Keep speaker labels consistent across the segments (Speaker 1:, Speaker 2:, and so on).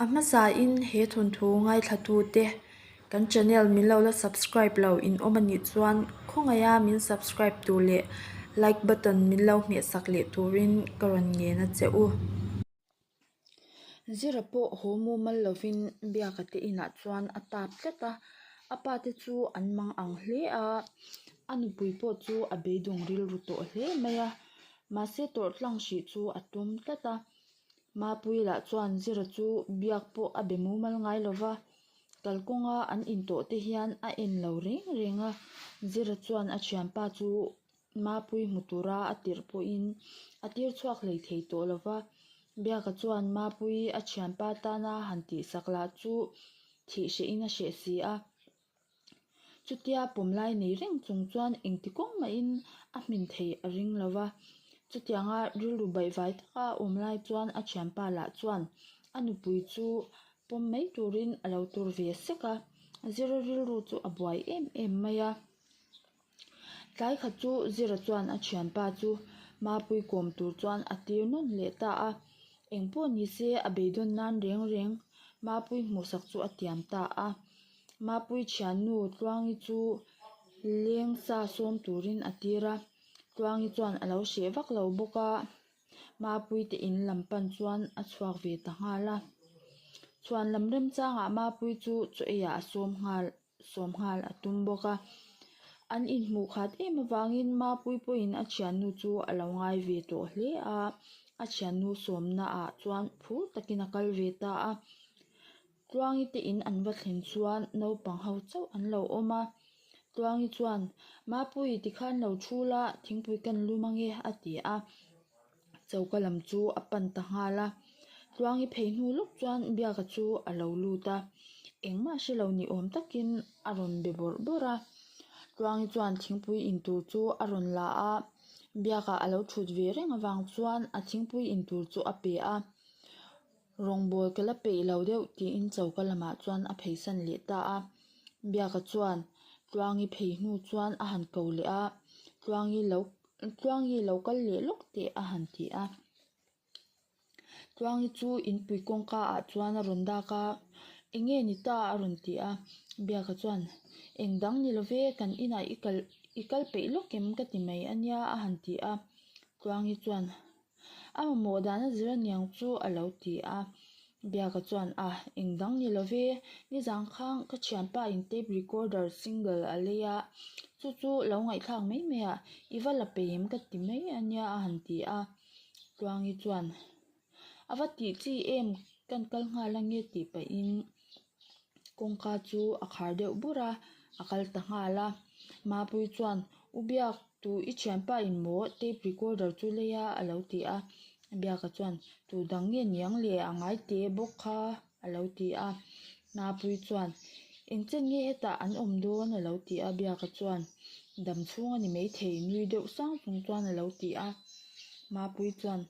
Speaker 1: A hmasa in he thawnthu ngaithlatu te kan channel min lo la subscribe lo in awm anih chuan khawngaih a min subscribe tur leh like button min lo hmehsak leh tur in ka rawn ngen a che u. Zira pawh haw mumal lo in biak a te in ah chuan a tap tlat a, a pa te chu an mang ang hle a, a nupui pawh chu a beidung rilru tawh hle mai a, mahse tawrh tlang hrih chu a tum tlat a. Mapui lah chuan zira chu biak pawh a be mumal ngai lo va, kalkawnga an intawh te hian a en lo reng reng a, zira chuan a thianpa chu Mapui hmu tura a tirh pawhin a tir chhuak hlei thei tawh lo va, biak ah chuan Mapui a thianpa tana han tihsak lah chu thih hrehin a hreh si a. Chutia pawm lai nei reng chung chuan engti kawng maiin a hmin theih a ring lo va, chutianga rilru baih vai taka awm lai chuan a thianpa lah chuan a nupui chu pawm mai turin a lo tur ve sek a, zira rilru chu a buai em em mai a. Tlai khat chu Zira chuan a thianpa chu mapui kawm tur chuan a tir nawn leh ta a, engpawh ni se a beidawn nan reng reng mapui hmuhsak chu a tiam ta a. Mapui thiannu Tluangi chu leng sa sawm turin a tir a, Tluangi chuan a lo hreh vak lo bawk a, mapui te in lam pan chuan a chhuak ve ta nghal a. Chhuan lam remchangah mapui chu chaw ei ah a sawm nghal. sawmnghal a tum bawk a, an inhmuh khat em avangin ma puipuiin a thiannu chu a lo ngai ve tawh hle a, a thiannu sawmnaah chuan phur takin a kal ve ta a, Tluangi te in an va thlen chuan naupang ho chauh an lo awm a, Tluangi chuan, Mapui tikhan lo thu la, thingpui kan lum ange a ti a. Choka lam chu a pan ta nghal a, tluangi phei hnu lawk chuan biaka chu a lo lut a, engmah a hre lo ni awm takin a rawn be bawrh bawrh a, tluangi chuan thingpui in tur chu a rawn la a, biakah a lo thut ve reng avang chuan a thingpui in tur chu a pe a. Rawngbawl ka la peih lo deuh, tiin choka lamah chuan a pheisan leh ta a. Biaka chuan Tluangi phei hnu chuan a han ko leh a, Tluangi lo Tluangi lo kal leh lawk teh a han ti a. Tluangi chu inpui kawngka ah chuan a rawn dak a, Enge ni ta a rawn ti a, Biaka chuan Eng dang ni love, kan inah i kal i kal peih lawk em ka ti mai a nia a han ti a. Tluangi chuan A mamawh dahna zir aniang chu a lo ti a, Biaka chuan a eng dang ni lo ve. Nizan khang ka thianpa in tape recorder single a lei a, chu chu lo ngaihthlak mai mai a, i va la peim ka ti mai a nia a han ti a. Tluangi chuan, A va tih chi em kan kal nghal ange tih pahin, kawngka chu a khar deuh bur a a kal ta nghal a mapui chuan u biak tu i thiam pa in maw tape recorder chu lei a a lo ti a a biak a chuan tu dang nge niang leh a ngai te bawk kha a lo ti a mapui chuan engchen nge hetah an awm dawn a lo ti a biak a chuan dam chhung a ni mai thei nui deuh sang chung chuan a lo ti a mapui chuan--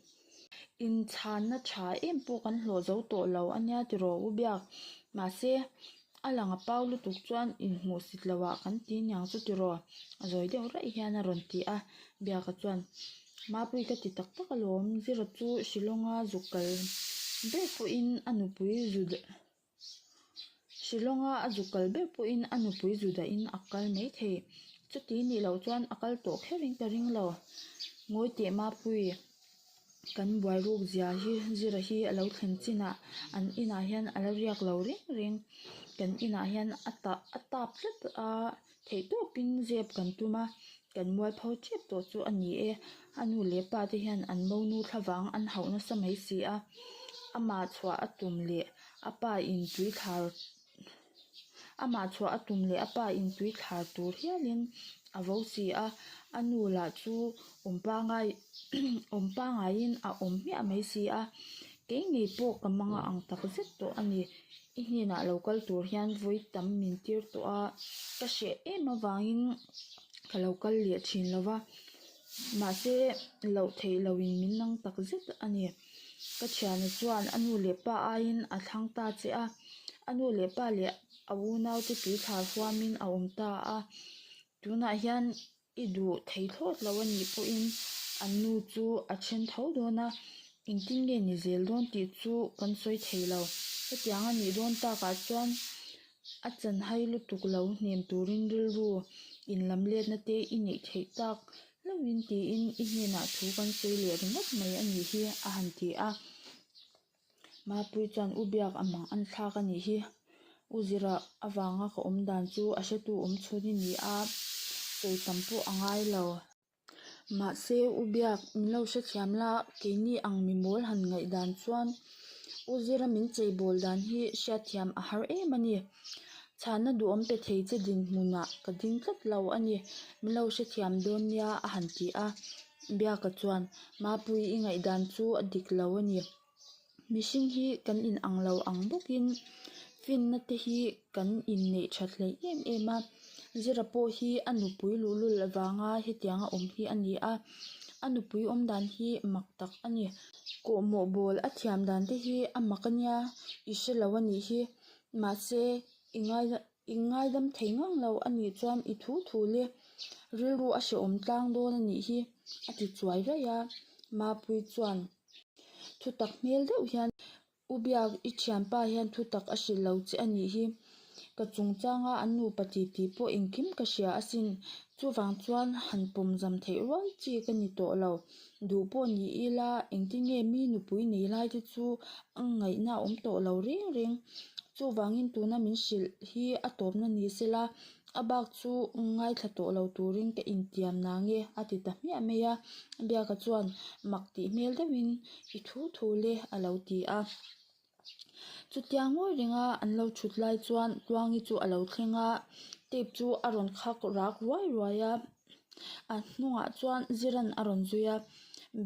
Speaker 1: Inchhanna tha em pawh kan hlawh zo tawh lo a nia tiraw u biak? Mahse, a lang a pau lutuk chuan inhmuhsit lohah kan ti niang chu tiraw? A zawi deuh raih hian a rawn ti a. Biak a chuan, Mapui ka ti tak tak alawm, Zira chu Shillong a zuk kal ber pawhin a nupui zu deuh. Shillonga a zuk kal ber pawhin a nupui Judah in a kal mai thei. Chuti nih loh chuan a kal tawh kher in ka ring lo. Ngawi teh Mapui, kan buairuk zia hi zira hi a lo thlen chinah an inah hian a lo riak lo reng reng. Kan inah hian a tap a tap tlat a. Theih tawpin zep kan tum a, kan mual pho ṭhep tawh chu a ni e. A nu leh pa te hian an mo nu thla vang an hauh nasa mai si a, ama chhuah a tum leh a pa in tui thlar ama chhuah a tum leh a pa in tui thlar tur hialin a vo si a, a nu lah chu awm pangai awm pangaiin a awm hmiah mai si a. Keini pawh ka manga ang tak zet tawh a ni. I hnenah lo kal tur hian vawi tam min tir tawh a, ka hreh em avangin ka lo kal leh thin lo va, mahse loh theih loin min nang tak zet a ni. Ka thiana chuan a nu leh pa aiin a thlang ta che a, a nu leh pa leh a unaute tui thla huamin a awm ta a, tunah hian I duh thei thlawt lo a nih pawhin an nu chu a then tho dawn a, engtin nge ni zel dawn tih chu kan sawi thei lo. Hetiang a nih dawn takah chuan a chanhai lutuk lo hnem turin rilru in lam letna te i neih theih tak hlauhin tiin i hnenah thu kan sawi leh ringawt mai a nih hi a han ti a. Mapui chuan u biak a mang an thlak a nih hi, u zira avanga ka awm dan chu a hretu awm chhun i ni a, sawi tam pawh a ngai lo. Mahse u biak min lo hre thiam la, keini ang mi mawl han ngaih dan chuan u zira min chei bawl dan hi hria thiam a har em a ni. Chhana duhawm pe thei che dinhmunah ka ding tlat lo a ni, min lo hre thiam dawn nia a han ti a. Biaka chuan, Mapui, i ngaihdan chu a dik lo a ni. Mihring hi kan inang lo ang bawkin finna te hi kan inneih tha hleih em em a. Zira pawh hi a nupui luhlul avanga hetianga awm hi a ni a. A nupui awmdan hi mak tak a ni. Kawhmawh bawl a thiam dan te hi a mak a nia, i hre lo a nih hi. Mahse, i ngaihna. I ngailam thei ngang lo a nih chuan i thu thu le rilru a hrehawm tlang dawn a nih hi a ti chuai raih a, Mapui chuan thu tak hmel deuh hian U Biak i thianpa hian thu tak a hrilh lo che a nih hi ka chungchang a, an nupa ti ti pawh engkim ka hria asin chuvang chuan han pawmzam theih rual chi ka ni tawh lo. duh pawh ni ila engti nge mi nupui nei lai te chu a ngaihna a awm tawh lo reng reng chuvangin tuna min hrilh hi a tawpna ni se la a bak chu ngaithla tawh lo turin ka intiam na nge a ti ta hmiah mai a a biak ah chuan mak tih hmel deuhin i thu thu le a lo ti a. chutia ngawih ringa an lo thut lai chuan khuangi chu a lo thleng a tape chu a rawn khak rak ruai ruai a a hnungah chuan zira a rawn zui a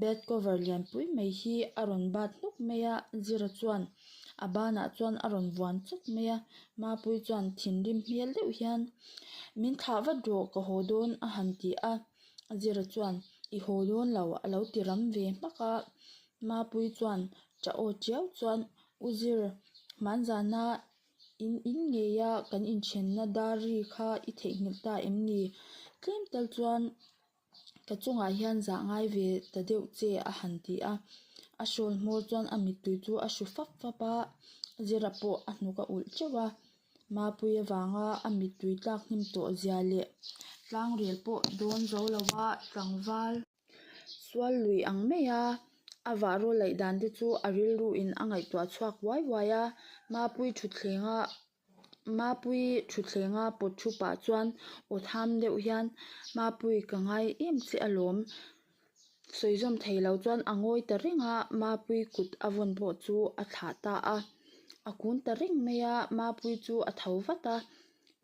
Speaker 1: bed cover lian pui mai hi a rawn bat hnup mai a zira chuan a banah chuan a rawn vuan chawp mai a mapui chuan thim rim hmel deuh hian min thlah vat rawh ka haw dawn a han ti a zira chuan i haw dawn lo a lo ti ram ve hmak a. Mapui chuan tah aw chiau chuan u zir hmanzana in in ngeia kan inthianna dari kha i theihnghilh ta em ni? Tlem tal chuan ka chungah hian zah ngai ve ta deuh che a han ti a. A hrawl hmawr chuan a mittui chu a hru fap fap a, u zira pawh a hnuk a ulh teuh a. Mapui avanga a mittui tlak hnim tawh zia leh tlangrel pawh dawn zo lova tlangval. sual lui ang mai a a vahraw laih dan te chu a rilru in a ngaihtuah chhuak uai uai a mapui thutthleng a mapui thutthleng a pawt thu pah chuan aw tham deuh hian mapui ka ngai em che alawm sawi zawm thei lo chuan a ngawi ta reng a mapui kut a vawn pawh chu a thlah ta a a kung ta reng mai a mapui chu a tho vat a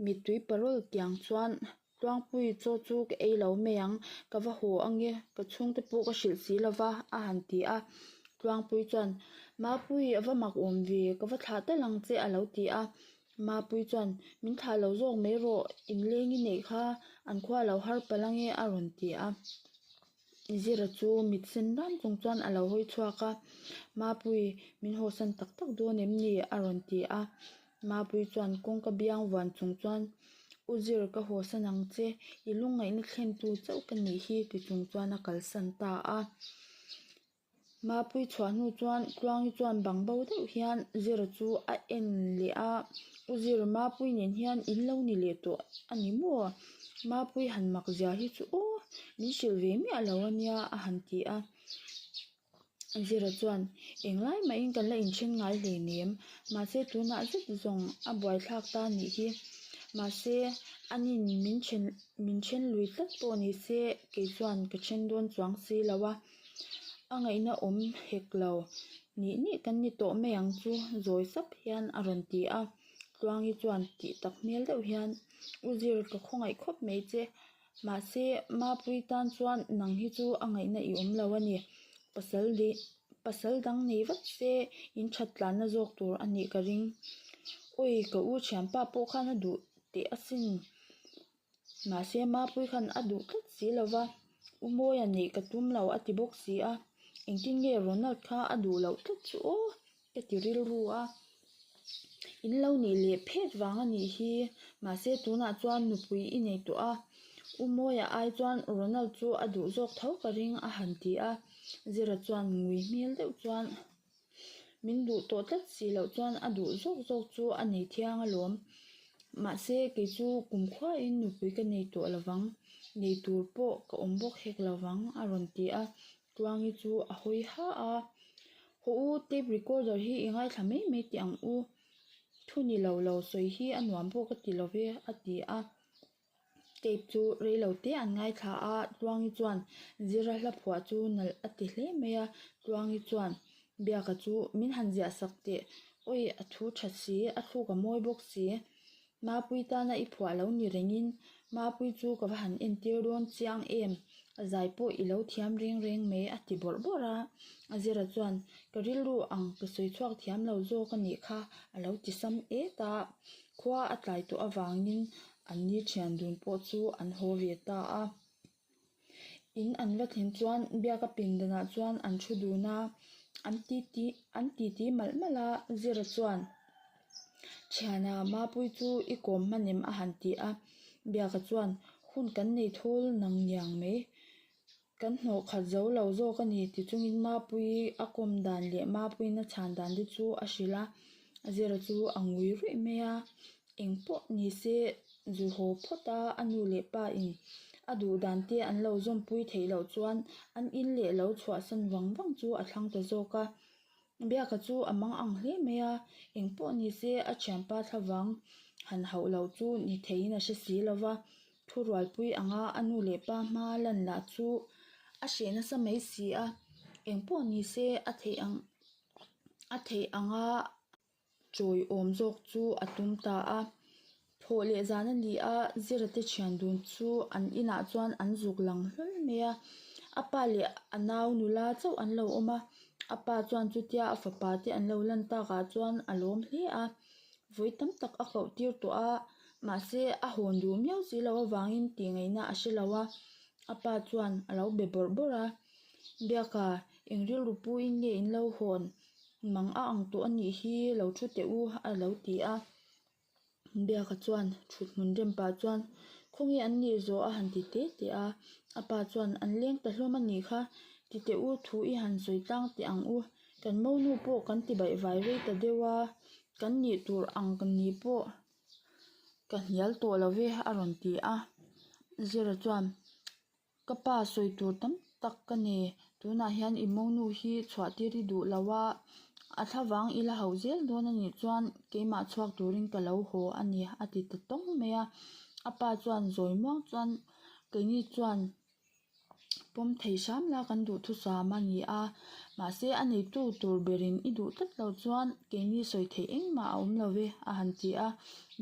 Speaker 1: mittui parul kiang chuan-- Tluangpui chaw chu ka ei lo mai ang, ka va haw ang e, ka chhungte pawh ka hrilh si lo va, a han ti a. Tluangpui chuan, Mapui a va mak awm ve, ka va thlah telh ang che a lo ti a. Mapui chuan, Min thlah lo zawk mai rawh, inleng i neih kha an khua a lo har palh ang e a rawn ti a. Zira chu mit sen ram kawng chuan a lo hawi chhuak a, Mapui min haw san tak tak dawn em ni? a rawn ti a. Mapui chuan kawngka biang vuan chung chuan, U Zir ka haw san ang che, i lungngaihna thlen tu chauh ka nih hi ti chung chuan a kalsan ta a. Mapui chhuah hnu chuan Tluangi chuan bang bo deuh hian zir chu a en leh a, U Zir, Mapui nen hian in lo ni leh tawh a ni maw? Mapui han mak zia hi chu aw, min hrilh ve miah lo a nia a han ti a. U Zir a chuan, Eng lai mahin kan la in then ngai hle nem, mahse tunah zet zawng a buaithlak ta nih hi, mahse an in min then min then lui tlat pawh ni se, kei chuan ka then dawn chuang si lo a. A ngaihna awm hek lo, nih nih kan ni tawh mai ang chu zawi zap hian a rawn ti a, Tluangi chuan tih tak hmel deuh hian U Zir ka khawngaih khawp mai che, mahse Mapui tan chuan nang hi chu a ngaihna i awm lo a ni, pasal dei pasal dang nei vat se in that tlanna zawk tur a nih ka ring, awi ka U Thianpa pawh khan a duh teh asin Mahse Mapuii khan a duh tlat si lo va, U Mawi a nih ka tum lo a ti bawk si a, engtin nge Ronald kha a duh loh tlat chu aw ka ti rilru a, in lo nih leh phet vang a nih hi, mahse tunah chuan nupui i nei tawh a, U Mawi a ai chuan Ronald chu a duh zawk tho ka ring a han ti a, Zira chuan ngui hmel deuh chuan. min duh tawh tlat si loh chuan a duh zawk zawk chu a nei thiang a lawm mahse kei chu kum khuaiin nupui ka nei tawh lo vang nei tur pawh ka awm bawk hek lo vang a rawn ti a tluangi chu a hawi ha a haw u tape recorder hi i ngaithla mai mai teh ang u thuni lo lo sawi hi a nuam bawk a ti lo ve a ti a. Tape chu rei lo te an ngaithla a Tluangi chuan zira hla phuah chu nalh a ti hle mai a Tluangi chuan biaka chu min han ziah sak teh awi a thu tha si a thluk a mawi bawk si Mapui tana i phuah lo ni rengin Mapui chu ka va han entir dawn chiang em a zai pawh i lo thiam reng reng mai a ti bawrh bawrh a a zira chuan ka rilru ang ka sawi chhuak thiam lo zawk a nih kha a lo ti sam e ta. Khua a tlai tawh avangin an ni thian dun pawh chu an haw ve ta a. In an va thlen chuan biaka pindanah chuan an thu dun a, an ti ti an ti ti malh malh a. Zira chuan thiana Mapui chu i kawm hman em a han ti a, biaka chuan hun kan nei thawl nang niang mai. Kan hnawh khat zo lo zawk a ni ti chungin Mapui a kawm dan leh Mapuin a chhan dan te chu a hrilh a, a zira chu a ngui ruih mai a, eng pawh ni se zu haw phawt a a nu leh pa in a duh dan te an lo zawmpui theih loh chuan an in leh lo chhuah san vang vang chu a thlang ta zawk a, Biaka chu a mang ang hle mai a, eng pawh ni se a thianpa thla vang han hauh loh chu ni thei in a hre si lo va, thu rualpui ang a a nu leh pa hma lan lah chu a hreh nasa mai si a, eng pawh ni se a theih ang a theih ang a. Chawi awm zawk chu a tum ta a, phawh leh zan a ni a, Zirate thian dun chu an inah chuan an zuk lang hlawl mai a, a pa leh a nau nula chauh an lo awm a, a pa chuan chutia a fapa te an lo lan tak ah chuan a lawm hle a, vawi tam tak a koh tir tawh a, mahse a hawn duh miau si lo avangin tih ngeih na a hre lo a, a pa chuan a lo be bawrh bawrh a, Biaka eng rilru puiin nge in lo hawn? Mang a ang tawh a nih hi lo thu teh u a lo ti a, biak a chuan thuthmun rem pah chuan khaw nge an ni zawh a han ti te te a, a pa chuan an leng ta hlawm a nih kha ti teh u thu i han sawi tlang teh ang u, kan monu pawh kan ti baih vai rei ta deuh a, kan nih tur ang ni pawh ka hnial tawh lo ve a rawn ti a, Zira chuan. Ka pa sawi tur tam tak ka ni. Tunah hian i mawngnu hi chhuah tir i duh lo a, a thla vang i la hauh zel dawn a nih chuan keimah chhuak turin ka lo haw a ni, a ti ta tawng mai a. A pa chuan zawi muang chuan keini chuan pawm thei hram la kan duhthusam a ni a, mahse a neitu tur berin i duh tlat lo chuan keini sawi theih engmah a awm lo ve a han ti a.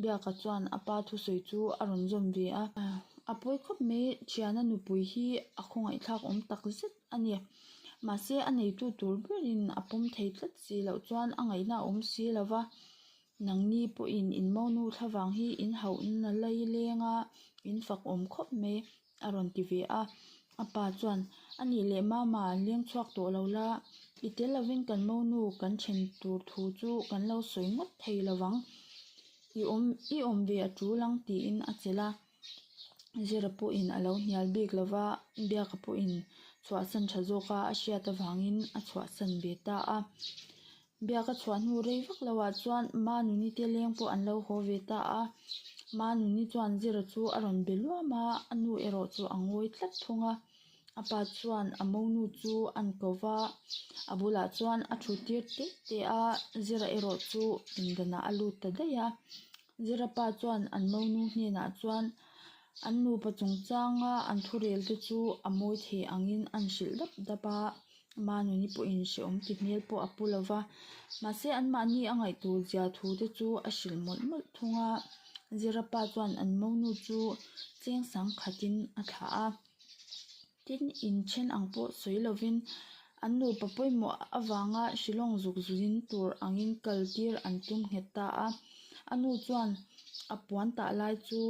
Speaker 1: Biak ah chuan a pa thusawi chu a rawn zawm ve a. A pawi khawp mai thiana nupui hi a khawngaihtlak awm tak zet a ni mahse a neitu tur berin a pawm thei tlat si loh chuan a ngaihna a awm si lo va nangni pawhin in monu thla vang hi in hauh na lai leng a in fak awm khawp mai a rawn ti ve a a pa chuan a nih leh mama leng chhuak tawh lo la i tel lovin kan monu kan then tur thu chu kan lo sawi ngawt thei lo vang. I awm i awm ve a ṭul ang tiin a chelh a, zira pawhin a lo hnial bik lo va, biaka pawhin chhuahsan ṭha zawk a, a hriat avangin a chhuahsan ve ta a. Biaka chhuah hnu rei vak lo ah chuan Manuni te leng pawh an lo haw ve ta a, Manuni chuan zira chu a rawn be luam a, a nu erawh chu a ngawi tlat thung a. A pa chuan a mo nu chu a ni ko va, a bulah chuan a thu tir teh teh a, Zira erawh chu pindanah a lut ta daih a, Zira pa chuan an mo nu hnenah chuan an nupa chungchanga an thurel te chu a mawi thei angin a ni hrilh dap dap a, ama nuni pawhin hrehawm ti hmel pawh a pu lo va, mahse anmahni a ngaih tur zia thu te chu a hrilh mawlh mawlh thung a, Zira pa chuan an mo nu chu cheng sang khatin a thlah a. tin in then ang pawh sawi lovin an nupa pawimawh avanga hrilawng zuk zin tur angin kaltir an tum nghet ta a a nu chuan a puan tah lai chu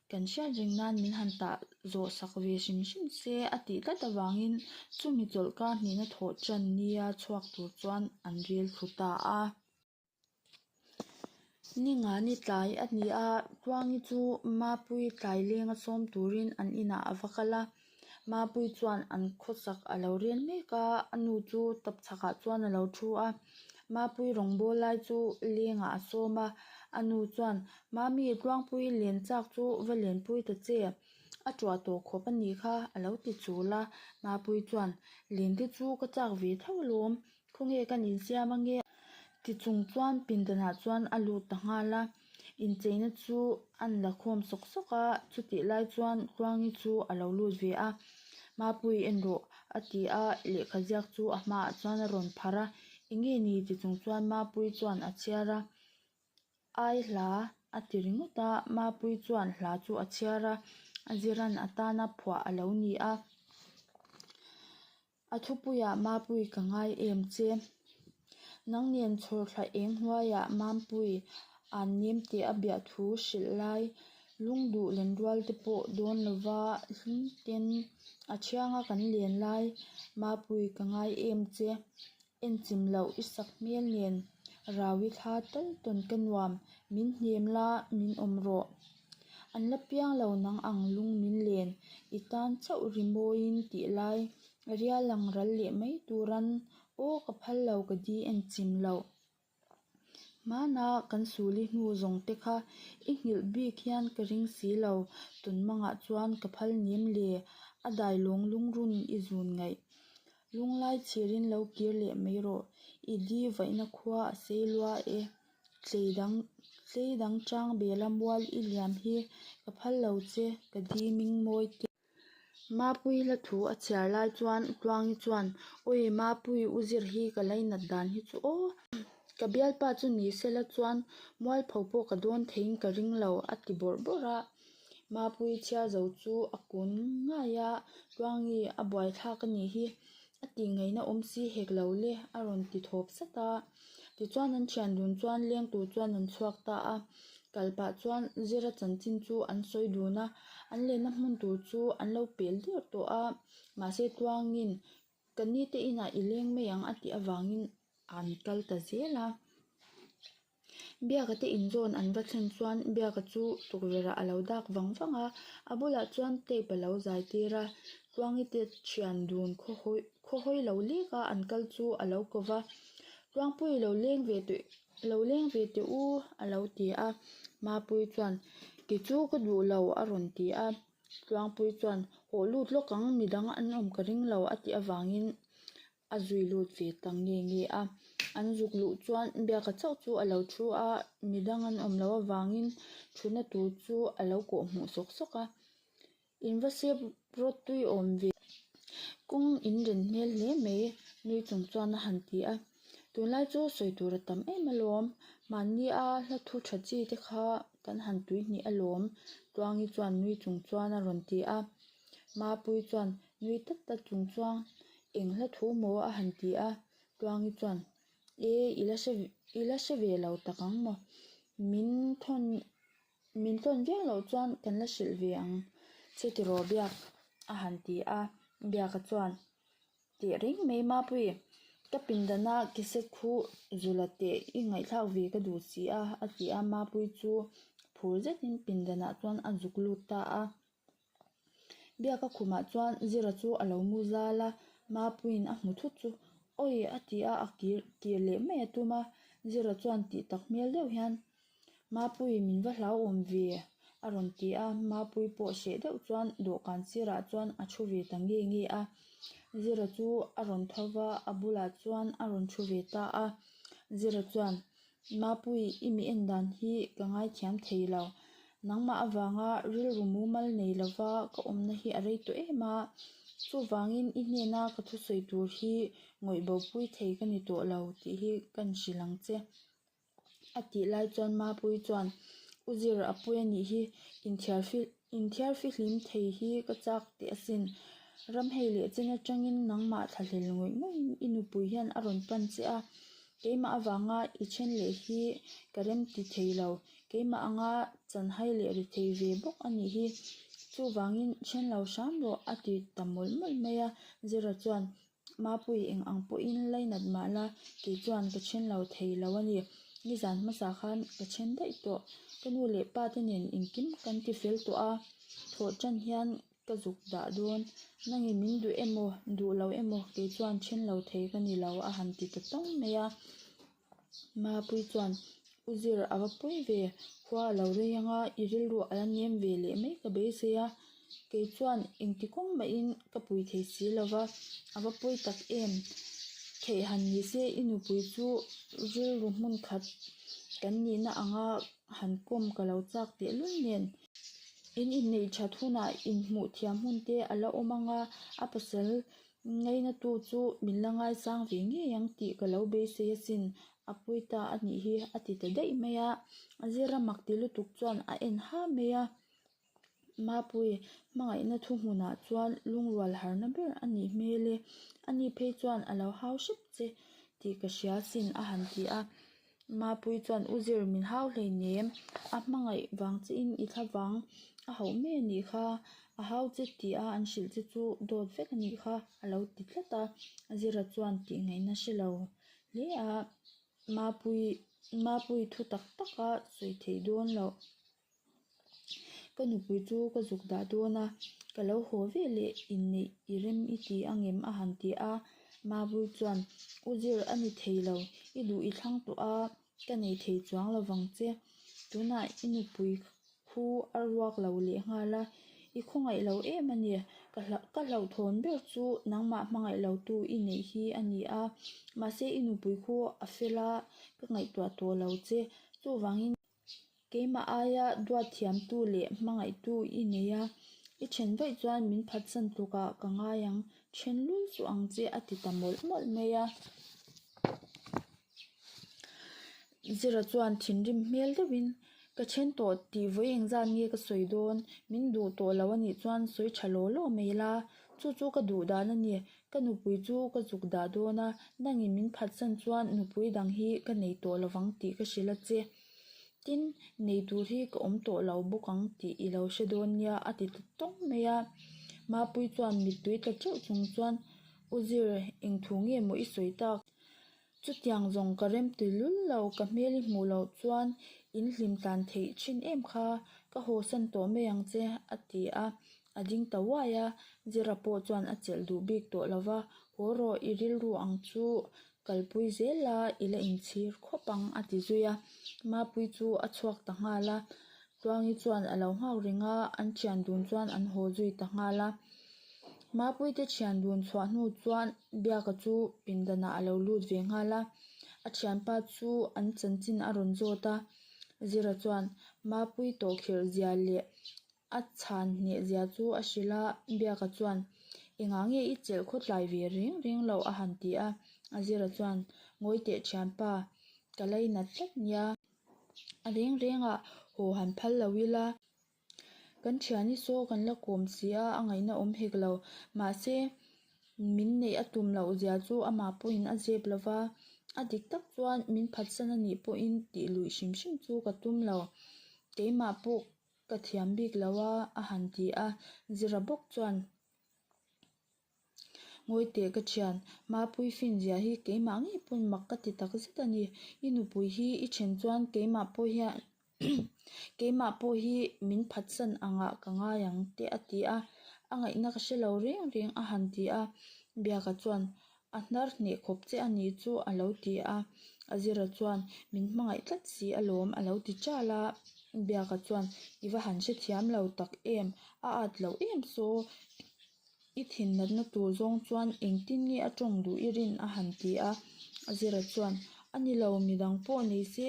Speaker 1: kan hriat reng nan min han tah zawh sak ve hrim hrim se a tih tlat avangin chumi chawlh kar hnihna thawh tan nia chhuak tur chuan an rel thlu ta a. Ningani tlai a ni a, Tluangi chu Mapui tlailenga sawm turin an inah a va kal a, Mapui chuan an khawchak a lo rial mek a, a nu chu tawp chhakah chuan a lo thu a, Mapui rawngbâwl lai chu lengah a sawm a, a nu chuan, Mami, Tluangpui len châk chu va lenpui ta che, a ṭuah tawh khawp a nih kha, a lo ti chûl a, Mapui chuan, Lente chu ka châk ve tho alawm, Khawnge kan insiam ange? Ti chung chuan pindanah chuan a lut ta nghal a, incheina chu an la khawm sawk sawk a, chutih lai chuan Khuangi chu a lo lut ve a, Mapui en rawh a ti a, lehkha ziak chu a hma ah chuan a rawn pharh a, Enge ni? ti chung chuan Mapui chuan a chhiar a, Ai hla a ti ringawt a, Mapui chuan hla chu a chhiar a, a ziran atana phuah a lo ni a. A thupuiah Mapui ka ngai em che. Nang nen chhawr thlah eng hnuaiah Mampui an nem teh a biah thu hrilh lai. Lung duh len rual te pawh dawn lova hlum ten a thiang a kan len lai. Mapui ka ngai em che. En chim loh i sak hmel nen rau i thla tawn tawn ka nuam min hnem la min awm rawh an la piang lo nang ang lung min len i tan chauh ri mawi in ti lai ria lang ral leh mai turan aw ka phal lo ka di en chim loh. Hmana kan sul i hnu zawng te kha i nghilh bik hian ka ring si lo, tun mangah chuan ka phal nim le a dai lawng lungrun i zun ngaih. Lunglai chhir in lo kir leh mai rawh, i di vaihna khua a sei lua e. Tlei dang tlei dang chang bela mual i liam hi ka phal lo che, ka diming mawi tih. Mapui la thu a chhiar lai chuan u Tluangi chuan, Awi Mapui u zir hi ka la inat dan hi chu aw, ka bialpa chu ni se la chuan mualpho pawh ka dawn thei in ka ring lo a ti bawrh bawrh a. Mapui chhiar zo chu a kun ngai a, Tluangi a buaithlak a nih hi A tih ngaihna awm si hek lo le a rawn ti thawp sat a. Tichuan an thian dun chuan leng tur chuan an chhuak ta a. Kal pah chuan zira chanchin chu an sawi dun a. An lehna hmun tur chu an lo pel dirh tawh a. Mahse tuangin ka ni te inah i leng mai ang a tih avangin an kal ta zel a. Biaka te inzawn an va thlen chuan biaka chu tukverhah a lo dak vang vang a, a bulah chuan tape a lo zai tir a, Tluangite thian dun khaw hawi khaw hawi lo lek a an kal chu a lo kawv a, Tluangpui lo leng ve tawh lo leng ve teh u a lo ti a, Mapui chuan ti chu ka duh lo a rawn ti a, Tluangpui chuan haw lut lawk ang midang an awm ka ring lo a tih avangin a zui lut ve ta nge nge a an zuk luh chuan biaka chauh chu a lo thu a mi dang an awm loh avangin thutna tur chu a lo kawh hmuh sawk sawk a in va sep rawt tui awm ve kawng in rin hmel hle mai nui chung chuan a han ti a tunlai chu sawi tur a tam em alawm mahni a hla thu tha chi te kha kan han tuihnih alawm tuangi chuan nui chung chuan a rawn ti a mapui chuan-- Nui tak tak chung chuan eng hla thu maw a han ti a, Tluangi chuan E i la hre i la hre ve lo tak ang maw, min thawn min thawn viau loh chuan kan la hrilh ve ang che tiraw biak a han ti a, biaka chuan teh reng mai mapuii ka pindanah cassette khu zulh a teh i ngaihthlak ve ka duh si a, a ti a, mapui chu phur zetin pindanah chuan a zuk lut ta a. Biaka khumah chuan zira chu a lo mu zal a mapuiin a hmu thut chu awi a ti a a kir kir leh mai a tum a zira chuan tih tak hmel deuh hian mapui min va hlauhawm ve a rawn ti a mapui pawh hreh deuh chuan dawhkan sirah chuan a thu ve ta nge nge a zira chu a rawn tho va a bulah chuan a rawn thu ve ta a zira chuan-- Mapui, i mi en dan hi ka ngaithiam thei lo. Nangmah avanga rilru mumal nei lova ka awmna hi a rei tawh em a. Chuvangin i hnena ka thusawi tur hi ngawih bopui thei ka ni tawh lo tih hi kan hrilh ang che. A tih lai chuan Mapui chuan, U Zir, Apuia nih hi inchhiar fil. Inthiar fihlim thei hi ka chak teh asin. Ramhei leh chen atangin nangmah thla hlel ngawih ngawih i nupui hian a rawn pan che a, keimah avanga i then leh hi ka remti thei lo, keimah anga chanhai leh ri thei ve bawk a nih hi. Chuvangin then lo hram rawh a ti ta mawlh mawlh mai a, Zira chuan Mapui eng ang pawhin lai nat mah la kei chuan ka then lo thei lo a ni. Nizan hmasa khan ka then daih tawh. Ka nu leh pa te nen engkim kan ti fel tawh a, thawh tan hian ka zuk dah dawn. Nange min duh em aw, duh lo em aw kei chuan then lo thei ka ni lo a han ti ta tawng mai a. Mapui chuan u zir a va pawi ve khua a lo rei ang a i rilruah a la nem ve leh mai ka beisei a kei chuan engti kawng mah in ka pui thei si lo va a va pawi tak em theih han ni se i nupui chu rilru hmun khat kan nih na ang a han kawm ka lo chak teh lul nen in inneih that hunah inhmuh thiam hmun te a la awm ang a a pasal-- Ngainatu chu min la ngaisang ve ngei ang tih ka lo beisei asin, a pui ta a nih hi a ti ta daih mai a, zira mak ti lutuk chuan a en ha mai a, mapui hmangaihna thu hmunah chuan lungrual harna ber a nih hmel e, ani phei chuan a lo hau hrep che tih ka hria sin a han ti a. Mapui chuan u zir min hau hlei nem a hmangaih vang che in i thla vang a hauh mai a nih kha a hau che ti a an hrilh che chu dawt vek a nih kha a lo ti tlat a zira chuan tih ngaih na hre lo hle a mapui mapui thu tak tak a sawi theih dawn loh. Ka nupui chu ka zuk dah dawn a, ka lo haw ve leh inneih i rem i ti angem a han ti a, Mabul chuan U zir a ni thei lo, i duh i thlang tawh a, ka nei thei chuang lo vang che, tunah i nupui khu a ruak lo leh nghal a, i khawngaih lo em a ni, ka hlauhthawn ber chu nangmah hmangaih lo tu i neih hi a ni a, mahse i nupui khu a fel a, ka ngaihtuah tawh lo che, chuvangin. Keimah aia duat thiamtu leh hmangaihtu i nei a, i then vaih chuan min phatsan tlukah ka ngai ang, then lul chu ang che a ti ta mawlh mawlh mai a. Zira chuan thinrim hmel deuhin ka then tawh tih vawi engzat nge ka sawi dawn, min duh tawh lo a nih chuan sawi tha law law mai la, chu chu ka duhdan a ni. Ka nupui chu ka zuk dah dawn a, nangin min phatsan chuan nupui dang hi ka nei tawh lo vang tih ka hrilh a che. Tin, nei tur hi ka awm tawh lo bawk ang tih i lo hre dawn nia a ti ta tawng mai a. Mapui chuan mittui ta teuh chung chuan, U Zir, eng thu nge maw i sawi tak? Chutiang zawng ka rem tui lul lo, ka hmel i hmuh loh chuan in hlim tlan theih thin em kha, ka haw san tawh mai ang che a ti a, a ding ta uai a, Zira pawh chuan a chelh duh bik tawh lo va, haw rawh i rilru ang chu kalpui zel la ila inchhir khawp ang a ti zui a, Mapui chu a chhuak ta nghal a, Tluangi chuan a lo nghak ring a, an thian dun chuan an haw zui ta nghal a. Mapuite thian dun chhuah hnu chuan biaka chu pindanah a lo lut ve nghal a, a thianpa chu an chanchin a rawn zawt a. Zira chuan Mapui tawhkhirh zia leh a chhan hneh zia chu a hrilh a, biaka chuan engah nge i chelh khawtlai ve reng reng lo a han ti a. Zira chuan ngawi teh thianpa ka lei nat tlat nia. a reng reng ah haw han phal lo ila kan thian i saw kan la kawm si a a ngaihna awm hek lo mahse min neih a tum loh zia chu amah pawh in a zep lo va a dik tak chuan min phat san a nih pawh in tih luih hrim hrim chu ka tum lo keimah pawh ka thiam bik lo a a han ti a Zira bawk chuan. Ngawi teh ka thian, ma puifin zia hi keimah ngei pawn mak ka ti tak zet a ni. I nupui hi i then chuan keimah pawh hian keimah pawh hi min phatsan ang ah ka ngai ang teh a ti a, a ngaihna ka hrelo reng reng a han ti a, biaka chuan a hnar hneh khawp che a ni chu a lo ti a, a zira chuan min hmangaih tlat si a lawm a lo ti chal a, biaka chuan i va han hrethiam lo tak em? A at loh em saw I thinnatna tur zawng chuan engtin nge a tawng duh i rin? a han ti a. Azira chuan, A ni lo, midang pawh nei se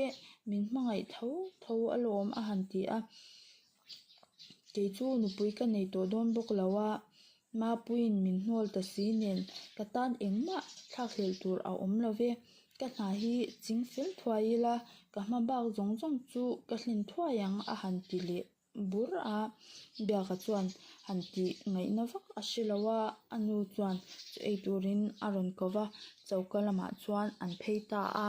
Speaker 1: min hmangaih tho tho alawm, a han ti a. Kei chu nupui ka nei tawh dawn bawk lo a, Mapuiin min hnawl ta si nen ka tan engmah thlakhlel tur a awm lo e. Ka hna hi ching fel thuai ila ka hma bak zawng zawng chu ka hlen thuai ang, a han ti leh. bur a, biaka chuan han tih ngaihna vak a si lo a, a nu chuan chu ei turin a rawn ko va, choka lamah chuan an phei ta a.